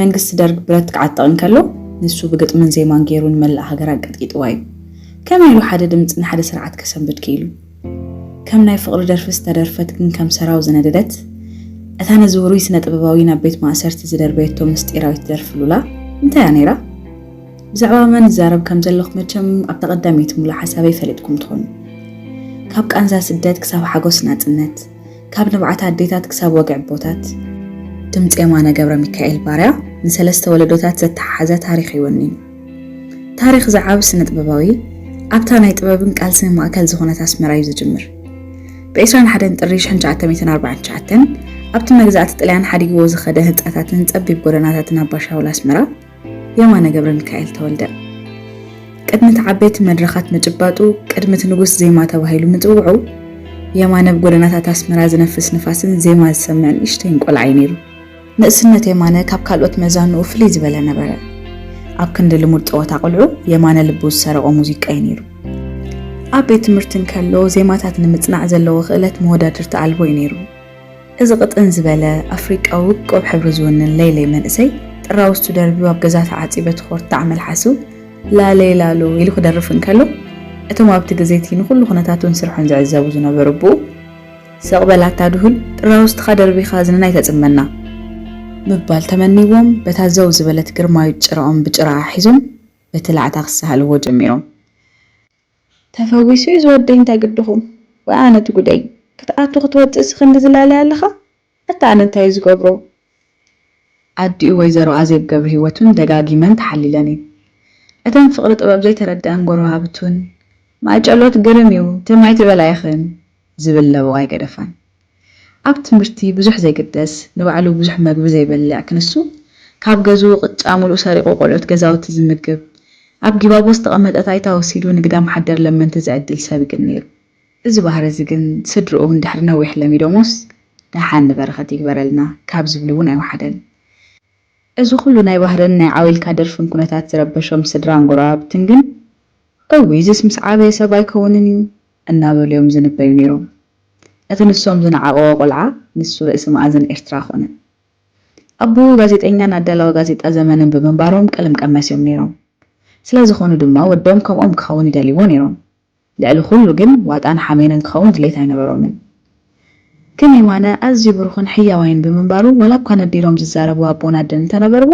መንግስቲ ደርግ ብረት ክዓጥቕ እንከሎ ንሱ ብግጥምን ዜማን ገይሩ ንመላእ ሃገር ኣንቀጥቂጥዋ እዩ። ከመይ ኢሉ ሓደ ድምጺ ንሓደ ስርዓት ከሰንብድ ክኢሉ? ከም ናይ ፍቕሪ ደርፊ ዝተደርፈት ግን ከም ሰራው ዝነደደት እታ ነዚ ውሩይ ስነ-ጥበባዊ ናብ ቤት ማእሰርቲ ዝደርበየቶ ምስጢራዊት ደርፊ ሉላ እንታይ እያ ነይራ? ብዛዕባ መን እዛረብ ከም ዘለኹ መቸም ኣብታ ቀዳመይቲ ሙሉእ ሓሳበይ ፈሊጥኩም ትኾኑ። ካብ ቃንዛ ስደት ክሳብ ሓጎስ ናጽነት! ካብ ልምዓት ኣዴታት ክሳብ ወግዒ ኣቦታት። ድምጺ የማነ ገብረሚካኤል ባርያ ንሰለስተ ወለዶታት ዘተሓሓዘ ታሪኽ እዩ ወኒኑ። ታሪኽ እዚ ዓቢ ስነጥበባዊ ኣብታ ናይ ጥበብን ቃልስን ማእከል ዝኾነት ኣስመራ እዩ ዝጅምር። ብ ዕስራን ሓደን ጥሪ ሽሕንሸዓተ ሚእትን ኣርባዓን ትሽዓተን ኣብቲ መግዛእቲ ጥልያን ሓዲግዎ ዝኸደ ህንጻታትን ጸቢብ ጎደናታትን ኣባሻውል ኣስመራ፣ የማነ ገብረሚካኤል ተወልደ ቅድሚ እቲ ዓበይቲ መድረኻት ምጭባጡ፣ ቅድሚ እቲ ንጉስ ዜማ ተባሂሉ ምጽውዑ፣ የማነ ኣብ ጎደናታት ኣስመራ ዝነፍስ ንፋስን ዜማ ዝሰምዕን ንእሽተይን ቆልዓ እዩ ነይሩ። ንእስነት የማነ ካብ ካልኦት መዛኑኡ ፍልይ ዝበለ ነበረ። ኣብ ክንዲ ልሙድ ጸወታ ቆልዑ፣ የማነ ልቡ ዝሰረቖ ሙዚቃ እዩ ነይሩ። ኣብ ቤት ትምህርቲ እንከሎ፣ ዜማታት ንምጽናዕ ዘለዎ ክእለት መወዳድርቲ ኣልቦ እዩ ነይሩ። እዚ ቅጥን ዝበለ ኣፍሪቃዊ ውቁብ ሕብሪ ዝውንን ለይለይ መንእሰይ፣ ጥራውዝቱ ደርብዩ ኣብ ገዛ ተዓጽዩ በቲ ኮርታዕ መልሓሱ ላሌ ላሉ ኢሉ ክደርፍ እንከሎ፣ እቶም ኣብቲ ግዜ'ቲ ንኹሉ ኩነታቱን ስርሑን ዝዕዘቡ ዝነበሩ ኣቦኡ፣ ሰቕ በል ኣታ ድሁል፣ ጥራውዝትኻ ደርቢኻ እዝንና ኣይተጽመና! ምባል ተመንይዎም፣ በታ ዘው ዝበለት ግርማዊት ጭራኦም ብጭራኣ ሒዞም በቲ ላዕታ ክሳሃልዎ ጀሚሮም። ተፈዊሱ ዩ ዝወደይ እንታይ ግድኹም ወይ ኣነ ትጉደይ ክትኣቱ ክትወጽእሲ ክንዲ ዝላልያ ኣለኻ ኣታ ኣነ እንታይ ዩ ዝገብሮ። ኣዲኡ ወይዘሮ ኣዜብ ገብርሂወት ውን ደጋጊመን ተሓሊለን እየን እተን ፍቅሪ ጥበብ ዘይተረደኣን ጎረባብት ውን ማይጨሎት ግርም ዩ ትም ኣይትበላ ኢኽን ዝብል ለበዋ ኣይገደፋን። ኣብ ትምህርቲ ብዙሕ ዘይግደስ፣ ንባዕሉ ብዙሕ መግቢ ዘይበልዕ ክንሱ፣ ካብ ገዝኡ ቅጫ ሙሉእ ሰሪቑ ቆልዑት ገዛውቲ ዝምግብ፣ ኣብ ጊባቦ ዝተቐመጠት ኣይታ ወሲዱ ንግዳም ሓደር ለመንቲ ዝዕድል ሰብ ግን ነይሩ። እዚ ባህሪ እዚ ግን ስድርኡ እውን ድሕሪ ነዊሕ ለሚዶሞስ፣ ደሓን ንበረኸት ይግበረልና ካብ ዝብሉ እውን ኣይወሓደን። እዚ ኩሉ ናይ ባህርን ናይ ዓውይልካ ደርፍን ኩነታት ዝረበሾም ስድራን ጎረባብትን ግን እውይ እዝስ ምስ ዓበየ ሰብ ኣይከውንን እዩ እናበሉ እዮም ዝንበዩ ነይሮም። እቲ ንሶም ዝነዓቕዎ ቆልዓ ንሱ ርእሲ መኣዝን ኤርትራ ኮነ። ኣቦኡ ጋዜጠኛን ኣዳላዊ ጋዜጣ ዘመንን ብምንባሮም ቀለም ቀመስ እዮም ነይሮም። ስለ ዝኾኑ ድማ ወዶም ከምኦም ክኸውን ይደልይዎ ነይሮም። ልዕሊ ኩሉ ግን ዋጣን ሓሜንን ክኸውን ድሌት ኣይነበሮምን። ግን የማነ ኣዝዩ ብሩኽን ሕያዋይን ብምንባሩ ዋላኳ ነዲሎም ዝዛረቡ ኣቦን ኣደን እንተነበርዎ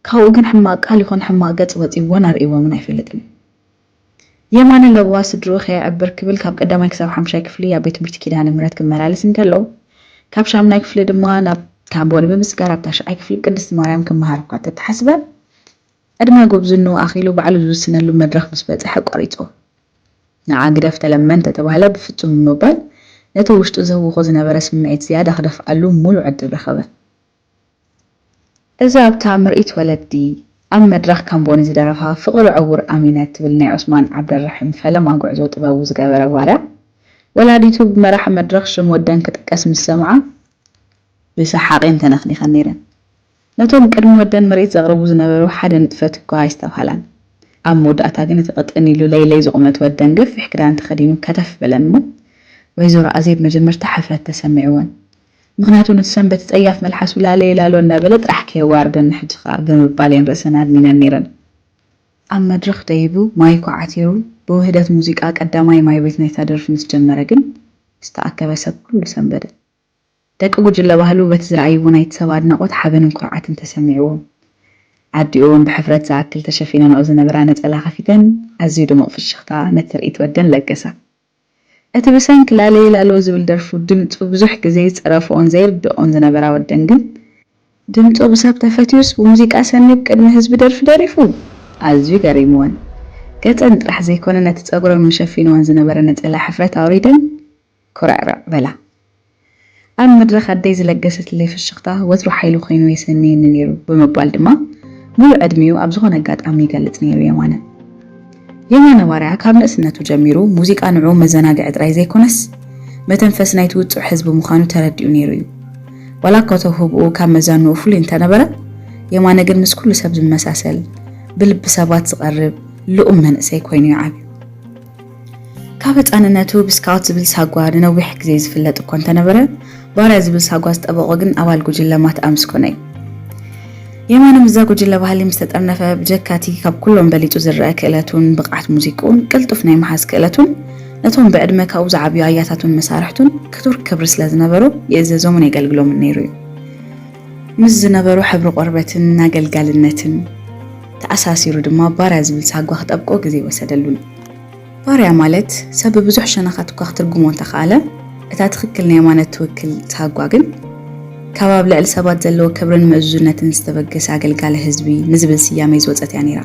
ካብኡ ግን ሕማቅ ቃል ይኹን ሕማቅ ገጽ ወጺዎን ኣርእይዎምን ኣይፈልጥን። የማነ ለበዋ ስድርኡ ከየዕብር ክብል ካብ ቀዳማይ ክሳብ ሓምሻይ ክፍሊ ኣብ ቤት ትምህርቲ ኪዳነ ምህረት ክመላለስ እንከሎ ካብ ሻምናይ ክፍሊ ድማ ናብ ታቦል ብምስጋር ኣብ ታሽዓይ ክፍሊ ብ ቅድስቲ ማርያም ክመሃር እኳ እንተተሓስበ ዕድመ ጉብዝንኡ ኣኺሉ ባዕሉ ዝውስነሉ መድረኽ ምስ በጽሐ ኣቋሪጹ። ንዓ ግደፍ ተለመን እንተተባህለ ብፍጹም ብምባል ነቲ ውሽጡ ዘህውኾ ዝነበረ ስምዒት ዝያዳ ክደፍኣሉ ምሉእ ዕድል ረኸበ። እዛ ኣብታ ምርኢት ወለዲ ኣብ መድረኽ ካምቦኒ ዝደረፋ ፍቕሪ ዕዉር ኣሚነ እትብል ናይ ዑስማን ዓብደልራሒም ፈለማ ጉዕዞ ጥበቡ ዝገበረ ጓልያ፣ ወላዲቱ ብመራሒ መድረኽ ሽም ወደን ክጥቀስ ምስ ሰምዓ ብሰሓቕ እየን ተነኽኒኸን ነይረን። ነቶም ቅድሚ ወደን ምርኢት ዘቕርቡ ዝነበሩ ሓደ ንጥፈት እኳ ኣይስተብሃላን። ኣብ መወዳእታ ግን እቲ ቅጥን ኢሉ ለይለይ ዝቑመት ወደን ገፊሕ ክዳን ተኸዲኑ ከተፍ በለን እሞ ወይዘሮ ኣዜብ መጀመርታ ሕፍረት ተሰሚዕወን ምኽንያቱ ነቲ ሰንበት ጸያፍ መልሓሱ ላለየ ላሎ እንዳበለ ጥራሕ ከየዋርደኒ ሕጂ ከኣ ብምባል እየን ርእሰን ኣድኒነን ነይረን። ኣብ መድረኽ ደይቡ ማይኩ ዓቲሩ ብውህደት ሙዚቃ ቀዳማይ ማይቤት ናይታ ደርፊ ምስ ጀመረ ግን ዝተኣከበ ሰብ ኩሉ ሰንበደ። ደቂ ጉጅለ ባህሉ በቲ ዝረኣይዎ ናይቲ ሰብ ኣድናቖት ሓበንን ኩርዓትን ተሰሚዕዎም። ኣዲኡ'ውን ብሕፍረት ዝኣክል ተሸፊነንኦ ዝነበራ ነጸላ ከፊተን ኣዝዩ ድሙቕ ፍሽኽታ ነቲ ትርኢት ወደን ለገሳ። እቲ ብሰንኪ ላለየ ላሎ ዝብል ደርፉ ድምጹ ብዙሕ ግዜ ዝጸረፍኦን ዘይርድኦን ዝነበራ ወደን ግን ድምጹ ብሰብ ተፈትዩስ ብሙዚቃ ሰኒ ብ ቅድሚ ህዝቢ ደርፊ ደሪፉ ኣዝዩ ገሪምወን ገጸን ጥራሕ ዘይኮነ ነቲ ጸጉረን መሸፊንወን ዝነበረ ነጸላ ሕፍረት ኣውሪደን ኩርዕርዕ በላ። ኣብ መድረኽ ኣደይ ዝለገሰትለይ ፍሽኽታ ወትሩ ሓይሊ ኰይኑ የሰንየኒ ነይሩ ብምባል ድማ ምሉእ ዕድሚኡ ኣብ ዝዀነ ኣጋጣሚ ይገልጽ ነይሩ የማነ። የማነ ባርያ ካብ ንእስነቱ ጀሚሩ ሙዚቃ ንዕኡ መዘናግዒ ጥራይ ዘይኰነስ መተንፈሲ ናይቲ ውጹዕ ህዝቢ ምዃኑ ተረዲኡ ነይሩ እዩ። ዋላ'ኳ ተውህቦኡ ካብ መዛኑኡ ፍሉይ እንተነበረ፣ የማነ ግን ምስ ኵሉ ሰብ ዝመሳሰል፣ ብልቢ ሰባት ዝቐርብ ልኡም መንእሰይ ኰይኑ እዩ ዓብዩ። ካብ ህጻንነቱ ብስካውት ዝብል ሳጓ ንነዊሕ ግዜ ዝፍለጥ እኳ እንተነበረ፣ ባርያ ዝብል ሳጓ ዝጠበቖ ግን ኣባል ጉጅለ ማትኣ ምስ ኮነ እዩ። የማነ ምስዛ ጉጅለ ባህሊ ምስ ተጠርነፈ፣ ብጀካ'ቲ ካብ ኩሎም በሊጹ ዝረኣ ክእለቱን ብቕዓት ሙዚቅኡን ቅልጡፍ ናይ ምሓዝ ክእለቱን፣ ነቶም ብዕድመ ካብኡ ዝዓብዩ ኣያታቱን መሳርሕቱን ክቱር ክብሪ ስለ ዝነበሮ ይእዘዞምን የገልግሎምን ነይሩ እዩ። ምስ ዝነበሮ ሕብሪ ቆርበትን ኣገልጋልነትን ተኣሳሲሩ ድማ ባርያ ዝብል ሳጓ ክጠብቆ ግዜ ወሰደሉን። ባርያ ማለት ሰብ ብብዙሕ ሸነኻት እኳ ክትርጉሞ እንተኸኣለ፣ እታ ትኽክል ናይ የማነ እትውክል ሳጓ ግን ካብ ኣብ ልዕሊ ሰባት ዘለዎ ክብርን ምእዙዝነትን ዝተበገሰ ኣገልጋሊ ህዝቢ ንዝብል ስያሜ ዝወጸት እያ ነይራ።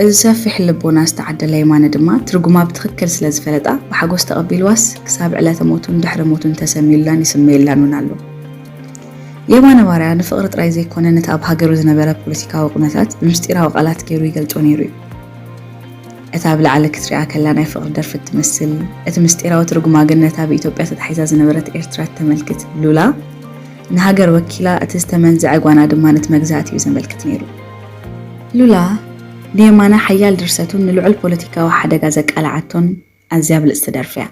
እዚ ሰፊሕ ልቦና ዝተዓደለ የማነ ድማ ትርጉማ ብትኽክል ስለ ዝፈለጣ ብሓጎስ ተቐቢልዋስ ክሳብ ዕለተ ሞቱን ድሕሪ ሞቱን ተሰንዩላን ይስመየላን እውን ኣሎ። የማነ ባርያ ንፍቕሪ ጥራይ ዘይኰነ ነቲ ኣብ ሃገሩ ዝነበረ ፖለቲካዊ ኵነታት ብምስጢራዊ ቃላት ገይሩ ይገልጾ ነይሩ እዩ። እታ ኣብ ላዕሊ ክትርኣ ከላ ናይ ፍቕሪ ደርፊ እትመስል፣ እቲ ምስጢራዊ ትርጉማ ግን ነታ ብኢትዮጵያ ተታሒዛ ዝነበረት ኤርትራ እተመልክት ሉላ ንሃገር ወኪላ፣ እቲ ዝተመንዝዐ ጓና ድማ ነቲ መግዛእቲ እዩ ዘመልክት ነይሩ። ሉላ ንየማነ ሓያል ድርሰቱን ንልዑል ፖለቲካዊ ሓደጋ ዘቃልዓቶን ኣዝያ ብልጽቲ ደርፊ እያ።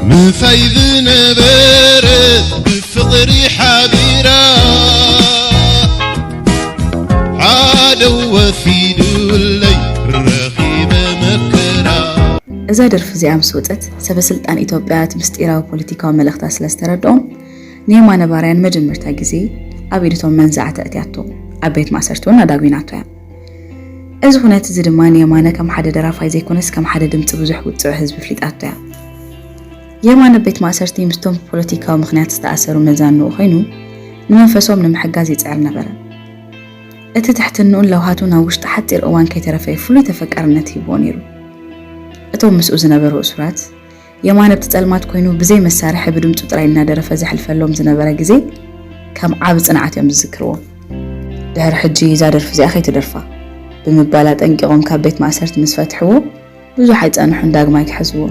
ምሳይ ዝነበረት ብፍቕሪ ሓቢራ ሓደ ወሲዱለይ ረኺበ መከራ እዛ ደርፊ እዚኣ ምስ ወፀት ሰበ ስልጣን ኢትዮጵያ እቲ ምስጢራዊ ፖለቲካዊ መልእኽታ ስለ ዝተረድኦም ንየማነ ባርያን መጀመርታ ግዜ ኣብ ኢድቶም መንዛዕቲ እትያቶ ኣብ ቤት ማእሰርቲ እውን ኣዳጒናቶ እያ እዚ ኩነት እዚ ድማ ንየማነ ከም ሓደ ደራፋይ ዘይኮነስ ከም ሓደ ድምጺ ብዙሕ ውጽዕ ህዝቢ ኣፍሊጣቶ እያ። የማነ ኣብ ቤት ማእሰርቲ ምስቶም ብፖለቲካዊ ምኽንያት ዝተኣሰሩ መዛንኡ ኮይኑ ንመንፈሶም ንምሕጋዝ ይጽዕር ነበረ። እቲ ትሕትንኡን ለውሃቱን ኣብ ውሽጢ ሓጺር እዋን ከይተረፈ ፍሉይ ተፈቃርነት ሂብዎ ነይሩ። እቶም ምስኡ ዝነበሩ እሱራት፣ የማነ ኣብቲ ጸልማት ኮይኑ ብዘይ መሳርሒ ብድምጹ ጥራይ እናደረፈ ዘሕልፈሎም ዝነበረ ግዜ ከም ዓቢ ጽንዓት እዮም ዝዝክርዎ። ድሕሪ ሕጂ እዛ ደርፊ እዚኣ ከይትደርፋ ብምባል ኣጠንቂቖም ካብ ቤት ማእሰርቲ ምስ ፈትሕዎ ብዙሕ ኣይጸንሑን ዳግማይ ክሕዝዎ።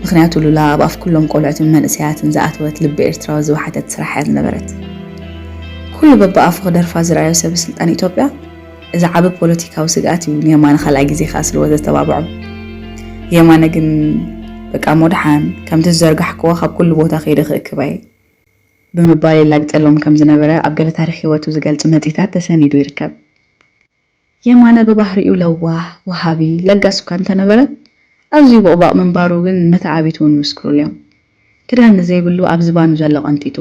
ምኽንያቱ ሉላ ኣብ ኣፍ ኩሎም ቆልዑትን መንእሰያትን ዝኣተወት ልቢ ኤርትራዊ ዝወሓተት ስራሕ እያ ዝነበረት። ኩሉ በብኣፉ ክደርፋ ዝረኣዮ ሰበ ስልጣን ኢትዮጵያ እዚ ዓቢ ፖለቲካዊ ስግኣት እዩ ንየማነ ካልኣይ ግዜ ከኣ ስልዎ ዘተባብዖ። የማነ ግን በቃ እሞ ደሓን ከምቲ ዝዘርጋሕክዎ ካብ ኩሉ ቦታ ከይደ ክእክብ ኣየ። ብምባል የላግጸሎም ከም ዝነበረ ኣብ ገለ ታሪኽ ህይወቱ ዝገልጽ መጽሂታት ተሰኒዱ ይርከብ። የማነ ብባህሪኡ ለዋህ፣ ወሃቢ፣ ለጋስ እኳ እንተነበረ ኣዝዩ ቦቕባቕ ምንባሩ ግን መተዓብይቱ እውን ይምስክሩሉ እዮም። ክዳን ንዘይብሉ ኣብ ዝባኑ ዘሎ ቀንጢጡ፣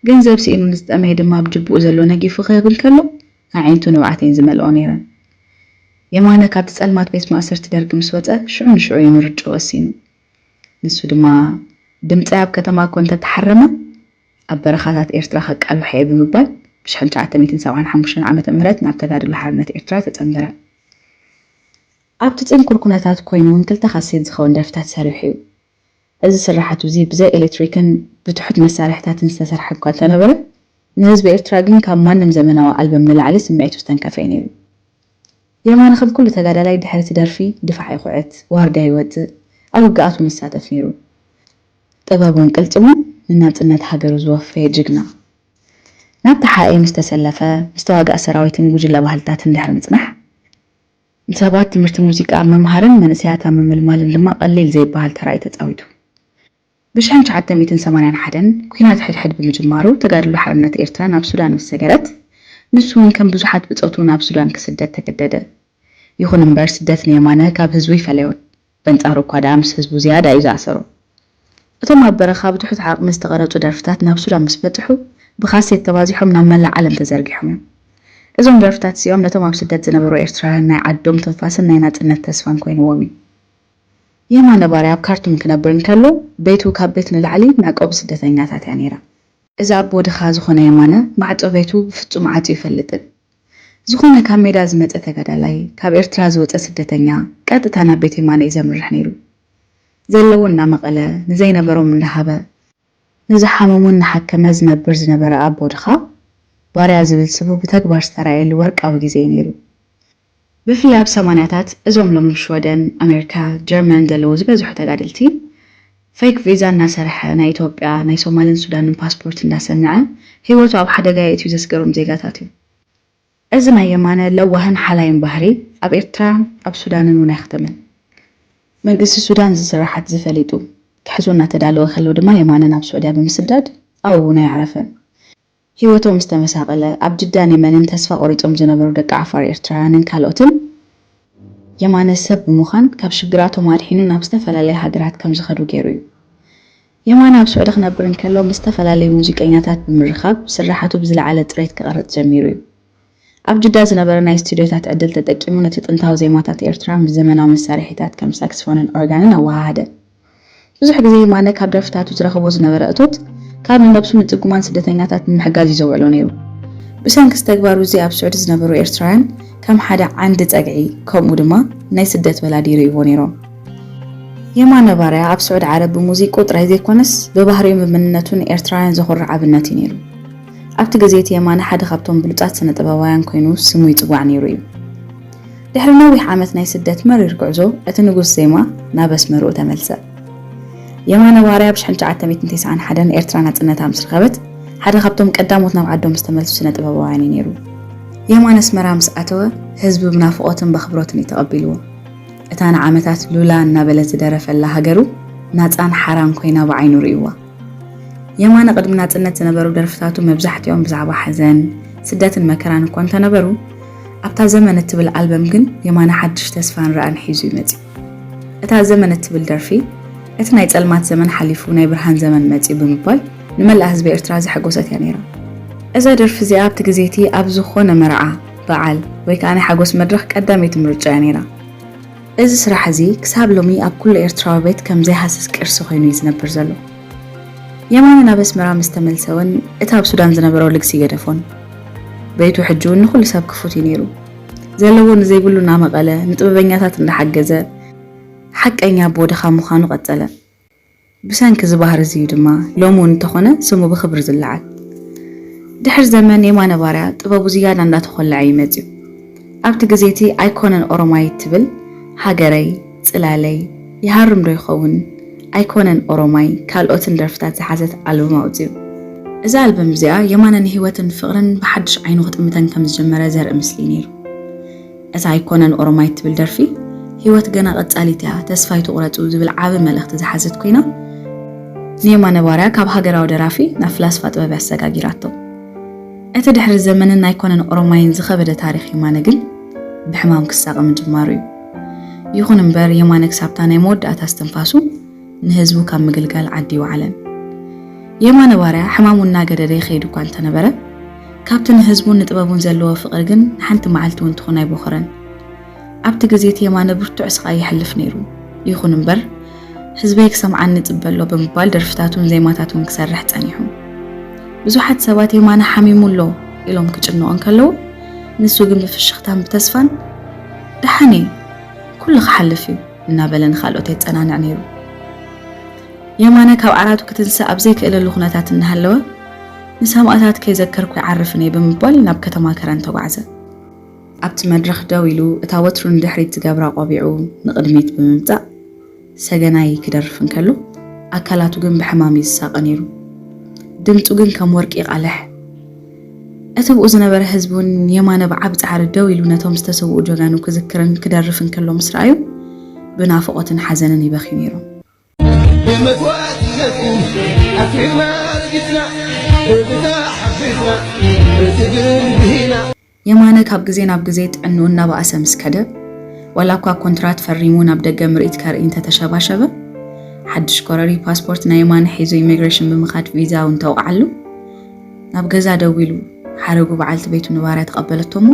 ገንዘብ ስኢኑ ንዝጠመየ ድማ ኣብ ጅብኡ ዘሎ ነጊፉ ክህብ እንከሎ፣ ኣዒንቱ ንብዓት እየን ዝመልኦ ነይረን። የማነ ካብቲ ጸልማት ቤት ማእሰርቲ ደርጊ ምስ ወጸ ሽዑ ንሽዑ እዩ ምርጭኡ ወሲኑ። ንሱ ድማ ድምጸይ ኣብ ከተማ እኮ እንተ ተሓረመ ኣብ በረኻታት ኤርትራ ከቃልሖ እየ ብምባል ብ ሽሕን ትሽዓተ ሚእትን ሰብዓን ሓሙሽተን ዓመተ ምህረት ናብ ተጋድሎ ሓርነት ኤርትራ ተጸንበረ። ኣብቲ ጽንኩር ኩነታት ኮይኑ ውን ክልተ ካሴት ዝኸውን ደርፍታት ሰሪሑ እዩ። እዚ ስርሓት'ዚ ብዘይ ኤሌክትሪክን ብትሑት መሳርሒታትን ዝተሰርሐ እኳ እንተነበረ፣ ንህዝቢ ኤርትራ ግን ካብ ማንም ዘመናዊ ኣልበም ንላዕሊ ስምዒቱ ዝተንከፈ'ዩ ነይሩ። የማነ ከም ኩሉ ተጋዳላይ ድሕሪ'ቲ ደርፊ ድፋዕ ይኹዕት፣ ዋርድያ ይወጽእ፣ ኣብ ውግኣት'ውን ይሳተፍ ነይሩ። ጥበቡን ቅልጽሙን ንናጽነት ሃገሩ ዝወፈየ ጅግና። ናብ ተሓኤ ምስ ተሰለፈ፣ ምስ ተዋጋእ ሰራዊትን ጉጅለ ባህልታትን ድሕሪ ምጽናሕ፣ ንሰባት ትምህርቲ ሙዚቃ ኣብ ምምሃርን መንእሰያት ኣብ ምምልማልን ድማ ቀሊል ዘይበሃል ተራ እዩ ተጻዊቱ። ብሽሕን ትሽዓተ ሚእትን ሰማንያን ሓደን ኩናት ሕድሕድ ብምጅማሩ ተጋድሎ ሓርነት ኤርትራ ናብ ሱዳን ምስ ሰገረት ንሱውን ከም ብዙሓት ብጾቱ ናብ ሱዳን ክስደድ ተገደደ። ይኹን እምበር ስደት ንየማነ ካብ ህዝቡ ኣይፈለዮን። በንጻሩ እኳ ደኣ ምስ ህዝቡ ዝያዳ እዩ ዝኣሰሮ። እቶም ኣብ በረኻ ብትሑት ዓቕሚ ዝተቐረጹ ደርፍታት ናብ ሱዳን ምስ በጽሑ ብካሴት ተባዚሖም ናብ መላእ ዓለም ተዘርጊሖም እዮም። እዞም ደርፍታት እዚኦም ነቶም ኣብ ስደት ዝነበሩ ኤርትራውያን ናይ ዓዶም ትንፋስን ናይ ናጽነት ተስፋን ኮይንዎም እዩ። የማነ ባርያ ኣብ ካርቱም ክነብር እንከሎ ቤቱ ካብ ቤት ንላዕሊ መዕቆቢ ስደተኛታት እያ ነይራ። እዚ ኣቦ ድኻ ዝኾነ የማነ ማዕጾ ቤቱ ብፍጹም ዓጽዩ ኣይፈልጥን። ዝኾነ ካብ ሜዳ ዝመጸ ተጋዳላይ፣ ካብ ኤርትራ ዝወጸ ስደተኛ፣ ቀጥታ ናብ ቤት የማነ እዩ ዘምርሕ ነይሩ። ዘለዎ እናመቐለ፣ ንዘይነበሮም እንዳሃበ፣ ንዝሓመሙ እናሓከመ ዝነብር ዝነበረ ኣቦ ድኻ ባርያ ዝብል ስሙ ብተግባር ዝተራእየሉ ወርቃዊ ግዜ እዩ ነይሩ። ብፍላይ ኣብ ሰማንያታት እዞም ሎሚ ሽወደን፣ ኣሜሪካ፣ ጀርመን ዘለዉ ዝበዝሑ ተጋደልቲ ፌክ ቪዛ እናሰርሐ ናይ ኢትዮጵያ፣ ናይ ሶማልን ሱዳንን ፓስፖርት እንዳሰነዐ ህይወቱ ኣብ ሓደጋ የእትዩ ዘስገሮም ዜጋታት እዩ። እዚ ናይ የማነ ለዋህን ሓላይን ባህሪ ኣብ ኤርትራን ኣብ ሱዳንን እውን ኣይኽተመን። መንግስቲ ሱዳን እዚ ስርሓት እዚ ፈሊጡ ክሕዞ እናተዳለወ ከሎ ድማ የማነ ናብ ሱዕድያ ብምስዳድ ኣብኡ እውን ኣየዕረፈን። ህይወቶም ዝተመሳቐለ፣ ኣብ ድዳን የመንን ተስፋ ቆሪጾም ዝነበሩ ደቂ ዓፋር ኤርትራውያንን ካልኦትን፣ የማነ ሰብ ብምዃን ካብ ሽግራቶም ኣድሒኑ ናብ ዝተፈላለያ ሃገራት ከም ዝኸዱ ገይሩ እዩ። የማነ ኣብ ስዑዲ ክነብር እንከሎ ምስ ዝተፈላለዩ ሙዚቀኛታት ብምርኻብ ስርሓቱ ብዝለዓለ ጽሬት ክቐርጽ ጀሚሩ እዩ። ኣብ ጅዳ ዝነበረ ናይ ስቱድዮታት ዕድል ተጠቂሙ ነቲ ጥንታዊ ዜማታት ኤርትራ ምስ ዘመናዊ መሳርሒታት ከም ሳክስፎንን ኦርጋንን ኣወሃሃደ። ብዙሕ ግዜ የማነ ካብ ደርፍታቱ ዝረኽቦ ዝነበረ እቶት ካብ ንነብሱን ንጽጉማን ስደተኛታት ንምሕጋዝ እዩ ዘውዕሎ ነይሩ። ብሰንኪ'ዚ ተግባሩ እዚ ኣብ ስዑዲ ዝነበሩ ኤርትራውያን ከም ሓደ ዓንዲ ጸግዒ ከምኡ ድማ ናይ ስደት ወላዲ ይርእይዎ ነይሮም። የማነ ባርያ ኣብ ስዑዲ ዓረብ ብሙዚቅኡ ጥራይ ዘይኮነስ ብባህሪኡን ብመንነቱን ንኤርትራውያን ዘኹርዕ ኣብነት እዩ ነይሩ። ኣብቲ ግዜ እቲ የማነ ሓደ ካብቶም ብሉጻት ስነ-ጥበባውያን ኰይኑ ስሙ ይጽዋዕ ነይሩ እዩ። ድሕሪ ነዊሕ ዓመት ናይ ስደት መሪር ጕዕዞ፣ እቲ ንጉስ ዜማ ናብ ኣስመርኡ ተመልሰ። የማነ ባርያ ብ ሽሕን ትሽዓተ ሚእትን ተስዓን ሓደን ኤርትራ ናጽነታ ምስ ረኸበት፣ ሓደ ካብቶም ቀዳሞት ናብ ዓዶም ዝተመልሱ ስነ-ጥበባውያን እዩ ነይሩ። የማነ ኣስመራ ምስ ኣተወ፣ ህዝቢ ብናፍቖትን በኽብሮትን እዩ ተቐቢልዎ። እታ ንዓመታት ሉላ እናበለ ዝደረፈላ ሃገሩ ናጻን ሓራን ኰይና ብዓይኑ ርእዩዋ። የማነ ቅድሚ ናጽነት ዝነበሩ ደርፍታቱ መብዛሕትኦም ብዛዕባ ሓዘን፣ ስደትን መከራን እኳ እንተነበሩ፣ ኣብታ ዘመን እትብል ኣልበም ግን የማነ ሓድሽ ተስፋን ራእን ሒዙ እዩ መጺኡ። እታ ዘመን እትብል ደርፊ፣ እቲ ናይ ጸልማት ዘመን ሓሊፉ ናይ ብርሃን ዘመን መጺኡ ብምባል ንመላእ ህዝቢ ኤርትራ ዘሐጎሰት እያ ነይራ። እዛ ደርፊ እዚኣ ኣብቲ ግዜ እቲ ኣብ ዝኾነ መርዓ፣ በዓል ወይ ከኣ ናይ ሓጎስ መድረኽ ቀዳመይቲ ምርጫ እያ ነይራ። እዚ ስራሕ እዚ ክሳብ ሎሚ ኣብ ኩሉ ኤርትራዊ ቤት ከም ዘይሃስስ ቅርሲ ኮይኑ እዩ ዝነብር ዘሎ። የማነ ናብ ኣስመራ ምስ ተመልሰ እውን እቲ ኣብ ሱዳን ዝነበሮ ልግሲ ኣይገደፎን። ቤቱ ሕጂ እውን ንኹሉ ሰብ ክፉት እዩ ነይሩ። ዘለዎ ንዘይብሉ እናመቐለ፣ ንጥበበኛታት እንዳሓገዘ ሓቀኛ ኣቦ ድኻ ምዃኑ ቀጸለ። ብሰንኪ እዚ ባህሪ እዚ እዩ ድማ ሎሚ እውን እንተኾነ ስሙ ብኽብሪ ዝለዓል። ድሕሪ ዘመን የማነ ባርያ ጥበቡ ዝያዳ እንዳተኾለዐ እዩ መጺኡ። ኣብቲ ግዜ እቲ ኣይኮነን ኦሮማይ እትብል ሃገረይ፣ ጽላለይ፣ ይሃርም ዶ ይኸውን፣ ኣይኮነን ኦሮማይ ካልኦትን ደርፍታት ዝሓዘት ኣልቡም ኣውጺኡ። እዛ ኣልበም እዚኣ የማነ ንህይወትን ፍቕርን ብሓድሽ ዓይኑ ክጥምተን ከም ዝጀመረ ዘርኢ ምስሊ እዩ ነይሩ። እታ ኣይኮነን ኦሮማይ እትብል ደርፊ፣ ህይወት ገና ቀጻሊት እያ፣ ተስፋ ኣይትቑረጹ ዝብል ዓቢ መልእኽቲ ዝሓዘት ኮይና፣ ንየማነ ባርያ ካብ ሃገራዊ ደራፊ ናብ ፍላስፋ ጥበብ እያ ኣሰጋጊራቶ። እቲ ድሕሪ ዘመንን ኣይኮነን ኦሮማይን ዝኸበደ ታሪኽ የማነ ግን ብሕማም ክሳቐ ምጅማሩ እዩ። ይኹን እምበር የማነ ክሳብታ ናይ መወዳእታ እስትንፋሱ፣ ንህዝቡ ካብ ምግልጋል ዓዲ ኣይወዓለን። የማነ ባርያ ሕማሙ እናገደደ ይኸይድ እኳ እንተነበረ፣ ካብቲ ንህዝቡን ንጥበቡን ዘለዎ ፍቕሪ ግን ንሓንቲ መዓልቲ እውን ትኹን ኣይቦኸረን። ኣብቲ ግዜ እቲ የማነ ብርቱዕ ስቓይ የሕልፍ ነይሩ። ይኹን እምበር፣ ህዝበይ ክሰምዓኒ እጽበ ኣሎ ብምባል ደርፍታቱን ዜማታቱን ክሰርሕ ጸኒሑ። ብዙሓት ሰባት የማነ ሓሚሙ ኣሎ ኢሎም ክጭነቑ እንከለዉ፣ ንሱ ግን ብፍሽኽታን ብተስፋን ደሓን እየ፣ ኩሉ ክሓልፍ እዩ! እናበለ ንኻልኦት የጸናንዕ ነይሩ። የማነ ካብ ዓራቱ ክትንሳእ ኣብ ዘይክእለሉ ኩነታት እናሃለወ፣ ንሰማእታት ከይዘከርኩ ኣይዓርፍን እየ ብምባል ናብ ከተማ ከረን ተጓዕዘ። ኣብቲ መድረኽ ደው ኢሉ፣ እታ ወትሩ ንድሕሪት ዝገብራ ቆቢዑ ንቕድሚት ብምምጻእ ሰገናይ ክደርፍ እንከሎ፣ ኣካላቱ ግን ብሕማም እዩ ዝሳቐ ነይሩ። ድምጹ ግን ከም ወርቂ ይቓልሕ። እቲ ብኡ ዝነበረ ህዝቢ ውን የማነ ብዓቢ ጻዕሪ ደው ኢሉ ነቶም ዝተሰውኡ ጀጋኑ ክዝክርን ክደርፍን ከሎ ምስ ረኣዩ ብናፍቖትን ሓዘንን ይበኽዩ ነይሮም። ብመስዋእትነትኩም ኣትሪርና ረጊጽና ብብታ ሓፊዝና ብትግል ብሂና። የማነ ካብ ግዜ ናብ ግዜ ጥዕንኡ እናበኣሰ ምስ ከደ፣ ዋላ እኳ ኮንትራት ፈሪሙ ናብ ደገ ምርኢት ከርኢ እንተ ተሸባሸበ፣ ሓድሽ ኮረርዩ ፓስፖርት ናይ የማነ ሒዙ ኢሚግሬሽን ብምኻድ ቪዛኡ እንተውቕዓሉ፣ ናብ ገዛ ደው ኢሉ ሓረጉ በዓልቲ ቤቱ ንባርያ ተቐበለቶ እሞ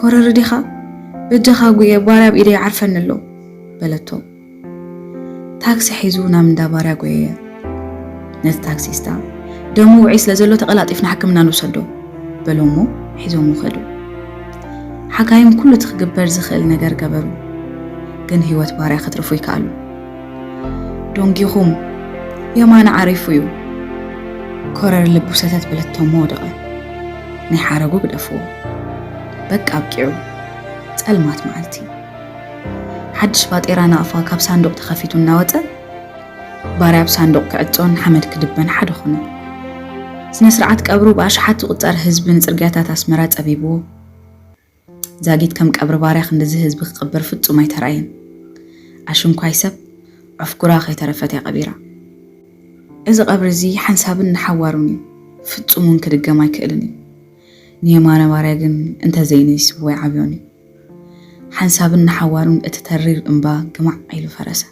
ኮረሪ ዲኻ በጃኻ ጉየ ባርያ ኣብ ኢደይ ዓርፈኒ ኣሎ በለቶ። ታክሲ ሒዙ ናብ እንዳ ባርያ ጎየየ። ነቲ ታክሲስታ ደሙ ውዑይ ስለ ዘሎ ተቐላጢፍና ሕክምና ንውሰዶ በሎ እሞ ሒዞም ውኸዱ። ሓካይም ኩሉ እቲ ክግበር ዝኽእል ነገር ገበሩ፣ ግን ህይወት ባርያ ከትርፉ ይከኣሉ። ዶንጊኹም የማነ ዓሪፉ እዩ ኮረር ልቡ ሰተት በለቶሞ ወደቐ ናይ ሓረጉ ግደፍዎ በቃ ኣብቂዑ ጸልማት መዓልቲ ሓድሽ ባጤራ ናቕፋ ካብ ሳንዱቕ ተኸፊቱ እናወፀ ባርያ ኣብ ሳንዱቕ ክዕፆን ሓመድ ክድበን ሓደ ኾነ ስነ ስርዓት ቀብሩ ብኣሽሓት ዝቑፀር ህዝቢ ንፅርግያታት ኣስመራ ፀቢብዎ ዛጊት ከም ቀብሪ ባርያ ክንድዚ ህዝቢ ክቅብር ፍጹም ኣይተራእየን ኣሽንኳይ ሰብ ዑፍጉራ ከይተረፈት እያ ቀቢራ እዚ ቀብሪ እዚ ሓንሳብን ንሓዋሩን እዩ ፍጹም ውን ክድገም ኣይክእልን እዩ ንየማነ ባርያ ግን እንተ ዘይነይስዎ ኣይዓብዮን እዩ ሓንሳብን ንሓዋሩን እቲ ተሪር እምባ ግማዕ ኢሉ ፈረሰ።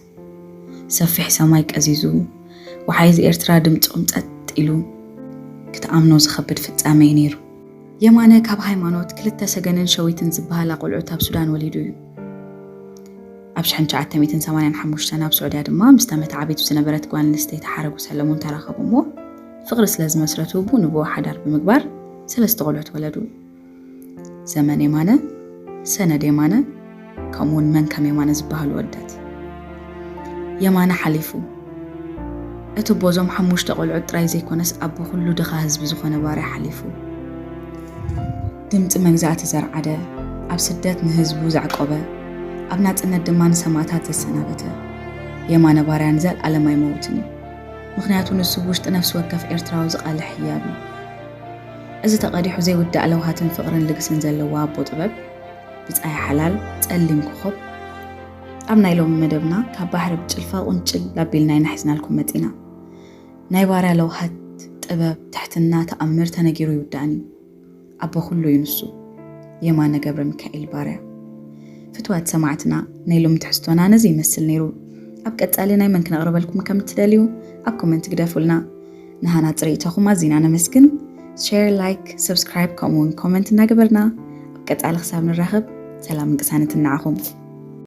ሰፊሕ ሰማይ ቀዚዙ፣ ወሓይዝ ኤርትራ ድምጾም ጸጥ ኢሉ፣ ክትኣምኖ ዝኸብድ ፍጻመ'ዩ ነይሩ። የማነ ካብ ሃይማኖት ክልተ ሰገንን ሸዊትን ዝበሃላ ቆልዑት ኣብ ሱዳን ወሊዱ እዩ። ኣብ ሽሕን ትሽዓተ ሚእትን ሰማንያን ሓሙሽተን ኣብ ስዑድያ ድማ ምስታ መተዓቢት ብዝነበረት ጓል ኣንስተይቲ ሓረጉ ሰለሙን ተራኸቡ እሞ ፍቕሪ ስለ ዝመስረቱ ብኡ ንብኡ ሓዳር ብምግባር ሰለስተ ቆልዑት ወለዱ። ዘመን የማነ፣ ሰነድ የማነ ከምኡ ውን መን ከም የማነ ዝበሃሉ ወደት የማነ ሓሊፉ እቲ ቦዞም ሓሙሽተ ቆልዑት ጥራይ ዘይኮነስ ኣቦ ኩሉ ድኻ ህዝቢ ዝኾነ ባርያ ሓሊፉ ድምፂ መግዛእቲ ዘርዓደ ኣብ ስደት ንህዝቡ ዘዕቆበ ኣብ ናፅነት ድማ ንሰማእታት ዘሰናበተ የማነ ባርያን ዘልኣለም ኣይመውትን እዩ። ምክንያቱ ንሱ ውሽጢ ነፍሲ ወከፍ ኤርትራዊ ዝቃልሕ ህያብ እዩ። እዚ ተቐዲሑ ዘይውዳእ ለውሃትን ፍቕርን ልግስን ዘለዋ ኣቦ ጥበብ ብጻይ ሓላል ጸሊም ኮኾብ ኣብ ናይ ሎሚ መደብና ካብ ባሕሪ ብጭልፋ ቁንጭል ኣቢልና ኢና ሒዝናልኩም መጺና። ናይ ባርያ ለውሃት ጥበብ ትሕትና ተኣምር ተነጊሩ ይውዳእን እዩ። ኣቦ ኩሉ እዩ ንሱ። የማነ ገብረሚካኤል ባርያ። ፍትዋት ሰማዕትና ናይ ሎሚ ትሕዝቶና ነዚ ይመስል ነይሩ። ኣብ ቀጻሊ ናይ መን ክነቕርበልኩም ከም እትደልዩ ኣብ ኮመንት ግደፉልና። ንሃና ፅርኢቶኹም ኣዚና ነመስግን ሼር ላይክ ሰብስክራይብ ከምኡውን ኮመንት እናገበርና ኣብ ቀፃሊ ክሳብ ንራኸብ ሰላምን ቅሳነትን ንዓኹም